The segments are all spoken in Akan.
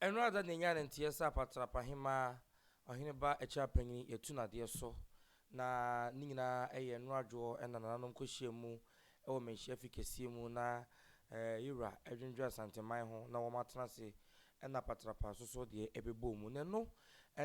Ɛno ara da na yɛnyaa ne nteɛ sɛ apatrapa hemmaa, ɔhene ba akyira panyin, yɛatu no adeɛ so, na ne nyinaa yɛ nnora adwoɔ na nananom kɔhyiaa mu wɔ manhyia fi kɛseɛ mu na yɛwura dwendwene Asanteman ho na wɔn atena ase na apatrapa asoso deɛ ɛbɛbɔɔ mu na ɛno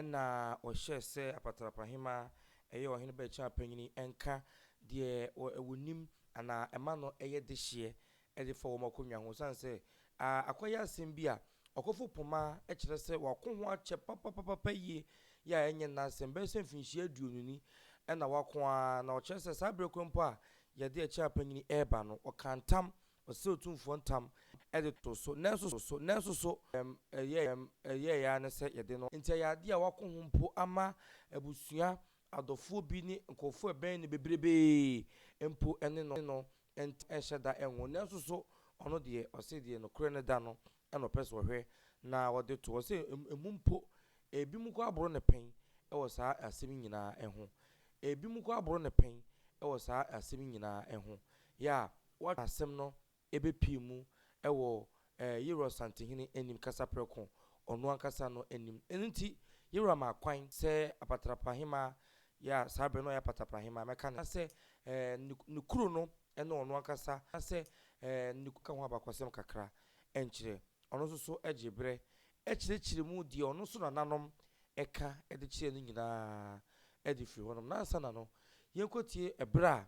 na wɔhyɛɛ sɛ apatrapa hemmaa ɛyɛ ɔhene ba akyira panyin nka deɛ wɔnim anaa ɛma no yɛ dehyeɛ de fa wɔn akonnwa ho esiane sɛ ah akɔyɛ asɛm bi a ɔkɔfo poma kyerɛ sɛ wako ho akyɛ papapapapa yie yɛ a ɛnyɛ nnɛ asɛm bɛyɛ sɛ mfinhyia aduonu ni na wako ara na ɔkyerɛ sɛ saa berɛ korɔ mpo a yɛde ɛkyɛ apanyin reba no ɔkaa ntam ɔsrɛɛ Otumfoɔ ntam de too so nanso so nanso so ɛyɛɛ ɛyɛɛ ara ne sɛ yɛde no nti ɛyɛ adeɛ a wako ho mpo ama abusua adɔfoɔ bi ne nkorɔfoɔ a ɛbɛn no bebrebee mpo ne no Enti ɛnhyɛ da nwo. Nanso so ɔno deɛ ɔse deɛ nokorɛ no da no na ɔpɛ sɛ ɔhwɛ na ɔde to hɔ? Ɔse emu mpo ebinom koraa boro ne pɛn wɔ saa asɛm yi nyinaa ho. Ebinom koraa boro ne pɛn wɔ saa asɛm yi nyinaa ho. Yɛ a, woahwɛ a asɛm no bɛpue mu wɔ Ɛɛ, Yeroa santehene anim kasa prɛko, ɔno ankasa no anim. Ɛno nti, Yeroa maa kwan sɛ apatrapa hemmaa, yɛ a saa bere no ɔyɛ apatrapa hemmaa, mmɛka ne ho, na sɛ, ɛɛ, ne, ne kuro no ne ɔno ankasa, na sɛ, ɛɛ, ne kuro no ka ho abakɔsɛm kakra nkyerɛ. Ɔno nso so gyee bere kyerɛkyerɛɛ mu deɛ ɔno nso nananom ka de kyerɛɛ no nyinaa de firii hɔnom. Ná ansa na no, yɛnkɔtie bere a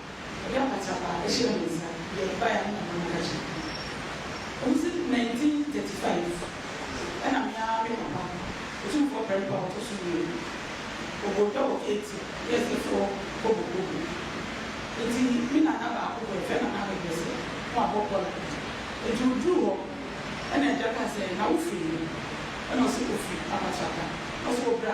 Ɔde apata a ɛhyɛ me nsa de mpae na mabɔ ka kyerɛ no. Kosi 1935, ɛna me ara me papa, Otumfoɔ Prempeh a ɔtɔ so mmienu, ɔbɔɔ dwa wɔ Ketia, Wiasefoɔ Kɔbɔbɔ mu. Enti me nana baako bɔ, yɛfrɛ no Nana Abɛbrɛsɛ, na wabɔ kɔla. Enti ɔduruu hɔ, ɛna agya kaa sɛ, Na wofiri he? Ɛna ɔse, Ofiri Apatraka. Ɛna ɔse, Ɔbra.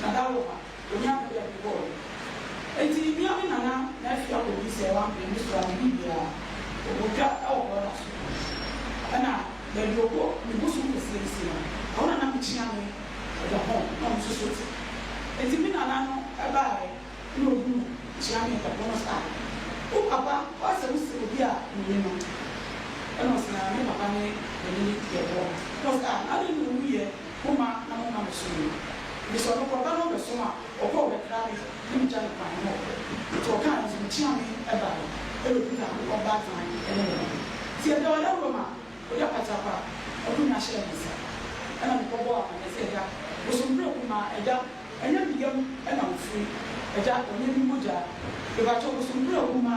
Dada wɔ ha, onyaa bɛ bɛ bobɔɔ no. Enti mia me nana na afia kɔ bi sɛ wampene me so a me ni biaa ɔbotwa wɔ brɔda so. Ɛna bɛbi ɔkɔ me bosom kɛseɛ bi se no, ɛhɔ na na me kyea me ɛda hɔ na ɔmo nso so te. Enti me nana no baaɛ na ɔhunu me kyea me ɛda hɔ no se ah wo papa w'asɛ wo se obi a me ne no. Ɛna ɔse ah me papa ne me ne no di ɛhɔ. Ɛna ɔse ah na adan na ɔwu yɛ Momma na momma me so mmue. Enti sɛ ɔno korɔba no ɔbɛsom a, ɔkɔ ɔbɛkra me ne me gya no kwan ne ɔkɔ. Enti ɔkaa no nso, mekyeaa me ɛbaa hɔ ɛna ɔduru Nyankopɔn ba atena ɛne me hɔ. Enti ɛda ɔda wuram a, ɔde apakyapa akonwa hyɛɛ me nsa ɛna me kɔ bɔɔ amanneɛ sɛ agya, bosom prɛko ma agya ɛnyɛ me yam ɛna ofiri, agya ɔnyɛ me mogyaa, mepakyɛw bosom prɛko ma.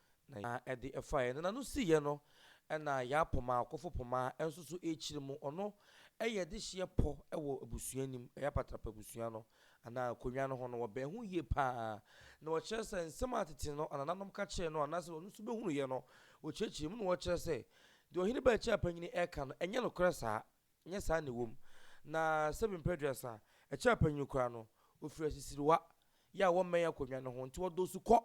Na ya ɛde ɛfaeɛ no n'ano siiɛ no ɛna ya poma ɔkofo poma ɛnso so ɛkyiri mu ɔno ɛyɛ de hyeɛ pɔ ɛwɔ abusua nim ɛyɛ apatrapa abusua no anaa akonwa no ho no wɔ bɛn ho yie paa na ɔkyerɛ sɛ nsɛm a tete no anananom ka kyerɛ no anaasɛ ɔno nso bɛhunuiɛ no ɔkyerɛkyerɛ mu na ɔkyerɛ sɛ deɛ ɔhene bɛɛkyɛ apanyini ɛka no ɛnyɛ nokorɛ saa Nyɛ saa na ɛwom. Na sɛbi mpɛn aduasa, ɛkyɛn panyin koraa no, ofiri asisiriwa, yɛ a wɔmmɛn akonnwa no ho, nti wɔdɔɔso kɔ,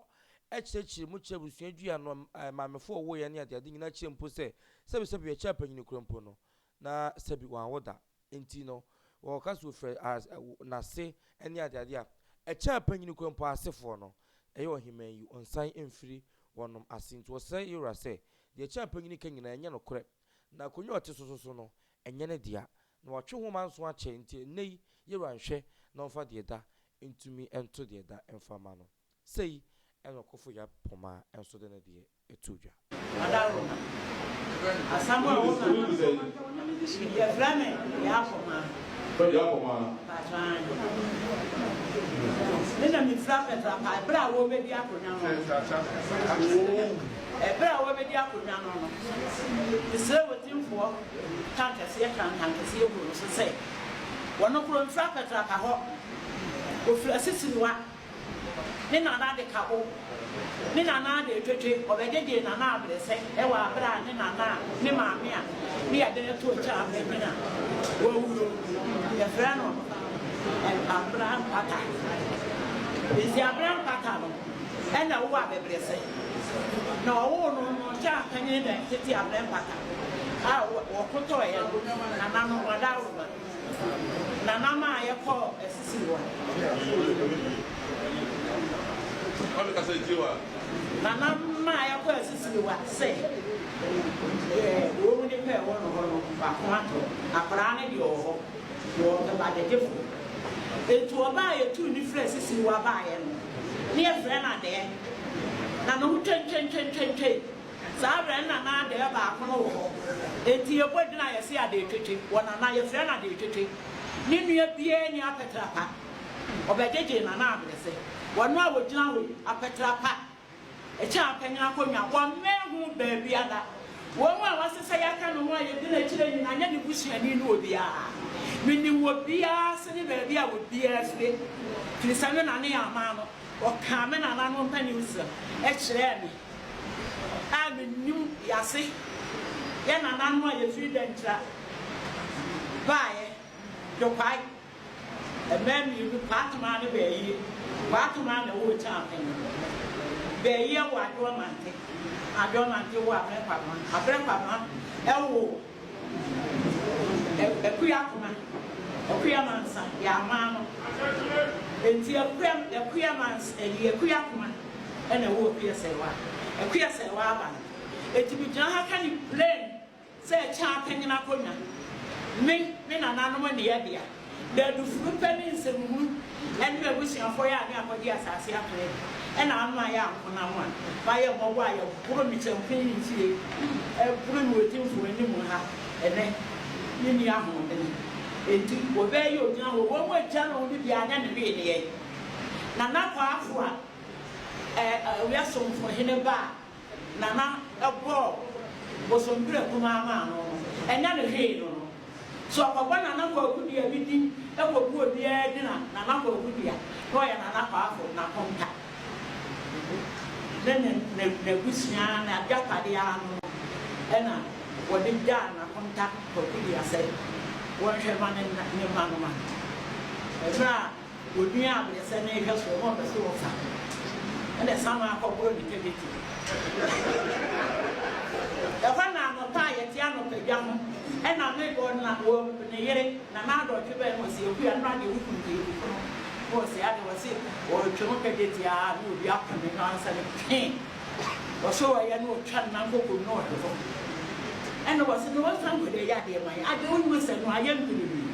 ɛkyerɛkyerɛ mu kyerɛ abusua dua no, maamefo a wɔwoeɛ ne adeade nyinaa kyerɛ mpo sɛ sɛbi sɛbi ɛkyɛn panyin koraa mpo no, na sɛbi wɔanwo da nti no wɔka sɛ ofiri n'ase ne adeade a, ɛkyɛn panyin koraa mpo asefoɔ no, ɛyɛ ɔheman yi, ɔnsan mfiri wɔnom ase, nti wɔsrɛ Yewura sɛ deɛ ɛkyɛn panyin ka nyinaa ɛnyɛ nokorɛ. Na akonnwa a ɔte so nso no, ɛnyɛ ne dea, na watwe nwoma nson akyɛ, enti ɛnnɛyi Yehowa nhwɛ na ɔmfa deɛ ɛda ntumi nto deɛ ɛda mfa mma no. Sei na ɔkofo Yap Poma nso de ne deɛ too dwa. Adaworoma. Asɛm a wo na no so na me de sua. Yɛfrɛ me Yap Poma. Fred Yap Poma. Mpakyɛ aane. Me na me fira Petra Pie berɛ a wɔrebɛdi akonnwa no. Fred Nsah Nsah. Ɛberɛ a wɔbɛdi akonnwa no no, mesrɛɛ w'atimfoɔ nkankɛseɛ kaa nkankɛseɛ guu no so sɛ, Wɔn koro mfiri apɛtraka hɔ, wɔfiri asisiriwa, ne nanaa de ka bo, ne nanaa de twetwe, ɔbɛgyegye nanaa aberɛsɛ wɔ aberɛ a ne nanaa, ne maame a ne yadeɛ no to nkyɛn abenbene a wawuo. Yɛfrɛ no Abira Mpata. Enti Abira Mpata no. Nna ɔwɔ abɛbrɛsɛ, na ɔwoo no no ɔnkyɛ annka nye nda ntsetse abrɛ mpata a wɔkotɔɔ hɛn nananom hɔn daaworoma na nam a yɛkɔɔ esisiw hɔ no. Na nam a yɛkɔɔ esisiw hɔ sɛ yɛ wɔ mu nyimpa a ɛwɔ no hɔ no faakor atɔ, akwadaa no deɛ ɔwɔ hɔ wɔ ebadadefo. Ntsi ɔbaa a yetuu no fir esisiw hɔ a baayɛ no, ne yɛfrɛ no adɛɛ, na ne ho twentwentwentwentwe. Saa berɛ no na na adɛɛ baako no wɔ hɔ, enti yɛbɔ edin a yɛse Adeetwetwe wɔ Nana, yɛfrɛ no Adeetwetwe. Ne nua biara nni Apɛtrapa, ɔbɛgyegye Nana Abrɛsɛ. Wɔn a wɔgyina hɔ yi, Apɛtrapa Ɛkyɛn a panyin akonnwa wɔmmɛn ho baabiara. Wɔn a wɔasɛ sɛ yɛaka ne ho a yedi n'akyiri nyinaa nyɛ ne busuani no obiara. Minim obiara ase ne baabi a obiara fi, efiri sɛ me na ne yɛn aman no, wɔkaa me nananom mpaninsɛm kyerɛɛ me a minim yɛn ase, yɛn nananom a yɛfiri Dankyira baeɛ, Dɔkwae. Mmaa mmienu, Paatoma ne Bɛɛyie. Paatoma na ɛwɔ Okyaampene. Bɛɛyie wɔ Adoɔmante. Adoɔmante wɔ Abrɛ Kwabena. Abrɛ Kwabena wɔ Akua Akoma. Akua Mansa yɛ aman no. Enti Akua Akua Mans ɛyi Akua Akoma na ɛwɔ Akua Sɛɛwa. Akua Sɛɛwa aba no. Enti megyina ha ka no plain sɛ ɛkyɛn apanyin akonnwa ne ne nananom nneyɛe dea, na adu funu pɛ ne nsɛmhunu ne abusuafo yɛ a ne akɔgye asase apere na ano ayɛ ankonam a, ma yɛ mmɔbɔ a yɛboro ne kyɛmpe ne mfiri boro ne odi mfom anim ha nnɛ ne nni ahoɔden enti wɔbɛyɛ ogyina hɔ wɔn agya na wɔde di anyɛ ne wee nneyɛe. Nana Kwaafo a ɔyɛ Somfohene ba a. Nana bɔɔ bosompirɛ kumaa maa no no, ɛnyɛ no hwee no no. So ɔkɔbɔ Nana Kwaku dua bi din kɔgu obiara din a, Nana Kwaku dua, na ɔyɛ Nana Kwaafo n'akonta ne ne n'abusua n'agyapadeɛ ara no no ɛna wɔde gyaa n'akonta Kwaku dua sɛ wɔnhwɛ ma ne mma no ma mmerɛ a Wɔduaa abirekyɛ no nhwɛ soɔ na wɔpɛ sɛ wɔfa no, ɛnna Samuel kɔboro ne kɛbɛti. Ɛhɔ na anɔpa a yɛte anɔpadwa ho, ɛnna Nabal na wɔabu ne yere, na n'adɔtwe bɛn wɔ sɛ ɛku a, ɛno ara deɛ wokum deɛ ɛkuku no, na wɔsɛe adeɛ, wɔse wɔretwe no kɛbɛti ara na obi apem no ansa na ɛtwee. Wɔse wɔyɛ na ɔtwa no na nkoko no na ɔde hɔ ɛna wɔse na ɔnsa nkɔ de yɛ adeɛ man adeɛ wonim sɛ no ayɛ no berebee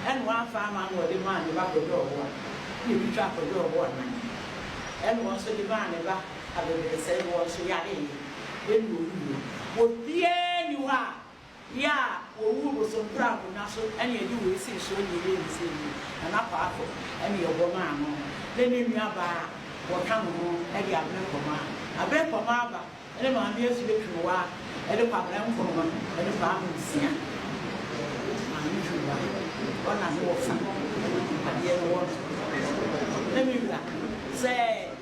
ɛna wamfa ama na ɔde maa ne ba kɔdɔ ɔwɔ a na ebi twa kɔdɔ ɔwɔ a nan ɛna wɔn nso de maa ne ba abɛbrɛsɛ na wɔn nso yareɛ ɛna ɔwuiɛ obiara ni hɔ a Bia wɔwuu bosomprako na so na yɛde wei sii soɔ na yɛyɛ no sei no, Nana Kwaafo na yɛbɔ maa no ne ne nuabaa a wɔka ne ho de Abene Kɔmaa. Abene Kɔmaa ba ne Maame Afie Twonowaa ne Kwabena Nkrumah ne Kwame Nsia. Maame Twonowaa wɔ n'ano wɔ fa, adeɛ no wɔ no. Na me wura sɛ.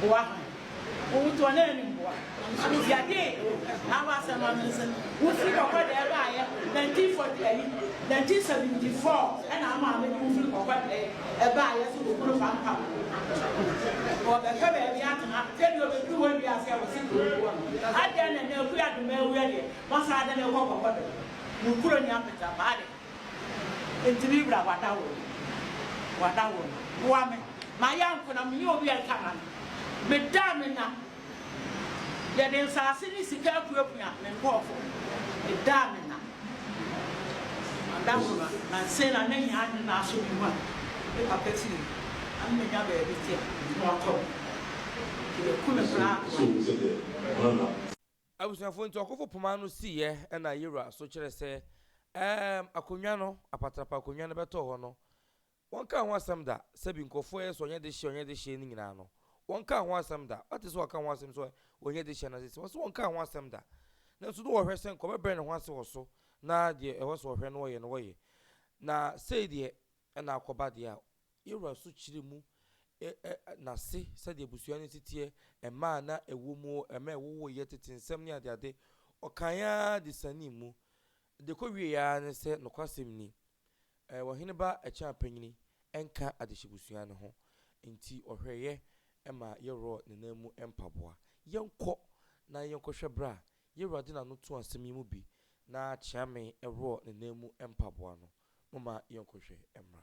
boa hɔn. Wotow hɔn enyi mboa. Yɛdze Awo Asɛm ano nsɛm, Wo fir kɔkɔ dɛɛ baayɛ, 1940 ayi, 1974 na ama me dze wo fir kɔkɔ dɛɛ baayɛ so wɔ kunu Fampa mu. Wɔbɛpɛ beebi atsena, dɛ bi obedur hɔ ewie ase a wɔse kurow no wɔ no. Adɛn na ndɛ Akua Domaa ewia deɛ, wɔasan adan Akua kɔkɔ dɛɛ mu kurow nye apɛtserapaa dɛɛ? Enti me wura wada wo no, wada wo no. Boa me ma yɛ nko na menyɛ obi a ɛka ma no. Meda a menya no, yɛde nsase ne sika apuapua me nkurɔfo. Meda a menya no, wada wo no. Nansa yi na na hia adwene na asɔ me mu a me papa firi mu na me bɛnya baabi te a, me ho atɔ me. Enti wɔaku me koraa a, boa me. Abusuafo nti ɔkofo poma no siiɛ ɛna yewura so kyerɛ sɛ ɛɛm akonwa no, apatrapa akonwa no bɛtɔɔ hɔ no wɔnkaa ho asɛm da, sɛbi nkorɔfoɔ ɛyɛ sɛ ɔnyɛ dehyeɛ ɔnyɛ dehyeɛ no nyinaa no wɔnkaa ho asɛm da, wate sɛ wɔka ho asɛm sɛ ɔnyɛ dehyeɛ na sese wɔse wɔnkaa ho asɛm da nanso na wɔhwɛ sɛ nka ɔbɛbrɛ ne ho ase wɔ so na deɛ ɛwɔ sɛ ɔhwɛ no ɔyɛ no wɔyɛ na sei deɛ ɛna akɔba deɛ a Yɛwura nso kyerɛ mu n'ase, sɛdeɛ abusua no si teɛ, mmaa a na ɛwɔ mu, mmaa a ɛwowoeɛ, tete nsɛm ne adeade. Ɔkaeɛ ara de sianee mu. Deɛ ɛkɔwieeɛ ara ne sɛ, nokwasɛm ni, Ɔhene Ba Akyinapanyini nka adehyebusua no ho, enti ɔhwɛeɛ ma yɛworɔɔ ne nan mu mpaboa. Yɛnkɔ na yɛnkɔhwɛ berɛ a Yɛwura de n'ano too asɛm yi mu bi na Kyeame worɔɔ ne nan mu mpaboa no. Momma yɛnkɔhwɛ mmra.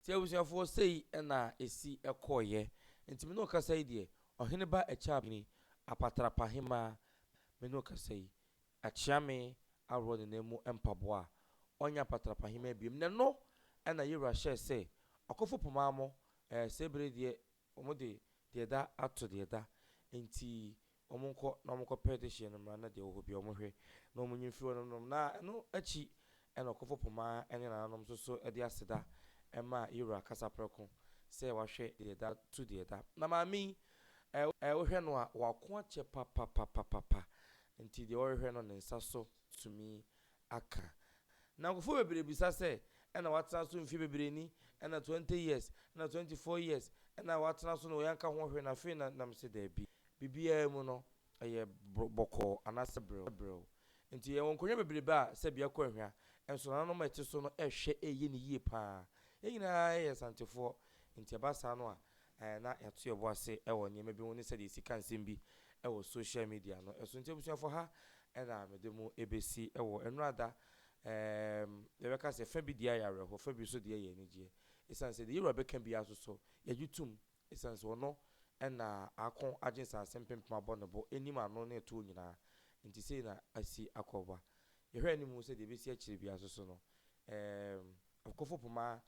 Nti abusuafoɔ sei na ɛsi kɔeɛ. Nti me ne wo kasa yi deɛ, Ɔhene ba Akyabini, Apatrapahemmaa, me ne wo kasa yi, Akyeame aworɔ ne nan mu mpaboa a, ɔnyɛ Apatrapahemmaa biom. Nnɛ no na Yewura hyɛɛ sɛ, Ɔkofo Pomamo, eh, Sebere deɛ Wɔde deɛ ɛda ato deɛ ɛda, enti wɔnkɔ na wɔnkɔpɛ dehyeɛ no mmra na deɛ ɛwɔ hɔ biara wɔnhwɛ na wɔnyi mfiri hɔ nom, na ɛno akyi na ɔkofo poma ne nananom nso so de aseda ma yɛn Wura kasa prɛko sɛ wahwɛ deɛ ɛda tu deɛ ɛda. Na maame yi, eh, wohwɛ no a, wako akyɛ papapapapapa, enti deɛ ɔrehwɛ no ne nsa so tumi aka. Nankofo bebree bisa sɛ, Ɛna watena so mfe bebree ni, ɛna twenty years, ɛna twenty four years, ɛna watena so na yɛanka ho hwee na afei na? Na mise, Dabi. Biribiara mu no, ɛyɛ bɔkɔɔ anaasɛ brɛoo. Enti yɛwɔ nkonnwa bebrebe a sɛbi ɛkɔ ɛhwa, nso nananom a ɛte so no ɛhwɛ ɛyɛ no yie paa. Yɛn nyinaa yɛ Asantefoɔ, enti ɛba saa no a, Ɛɛ, na yɛato yɛn bo ase wɔ nneɛma bi ho ne sɛdeɛ yɛsi ka nsɛm bi wɔ social media no so. Nti abusuafoɔ, ha na mede mo bɛsi wɔ nnora da. Ɛɛm, yɛbɛka sɛ fa bi deɛ ayɛ awerɛhoɔ, fa bi nso deɛ yɛ anigyeɛ. Ɛsiane sɛ deɛ yɛn wura bɛka biara nso so, yɛgye tom. Ɛsiane sɛ ɔno na ako agye nsase mpempem abɔ ne bo, nim ano ne ɛtoɔ nyinaa. Nti sei na asi akɔ ba. Yɛhwɛ anim hu sɛ deɛ ɛbɛsi akyire biara nso so no, ɛɛm, Ɔkofo poma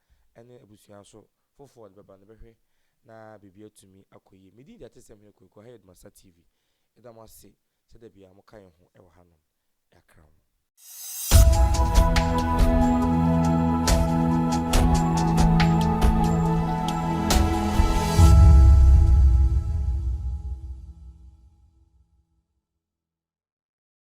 ne abusua nso foforɔ a ɔde bɛba no bɛhwɛ na biribi atumi akɔ yie. Me din de Atesɛm Hene Kwaku Ahayɛ Dumasa TV. Yɛda mo ase sɛ da biara moka yɛn ho wɔ hanom. Yɛakra mo.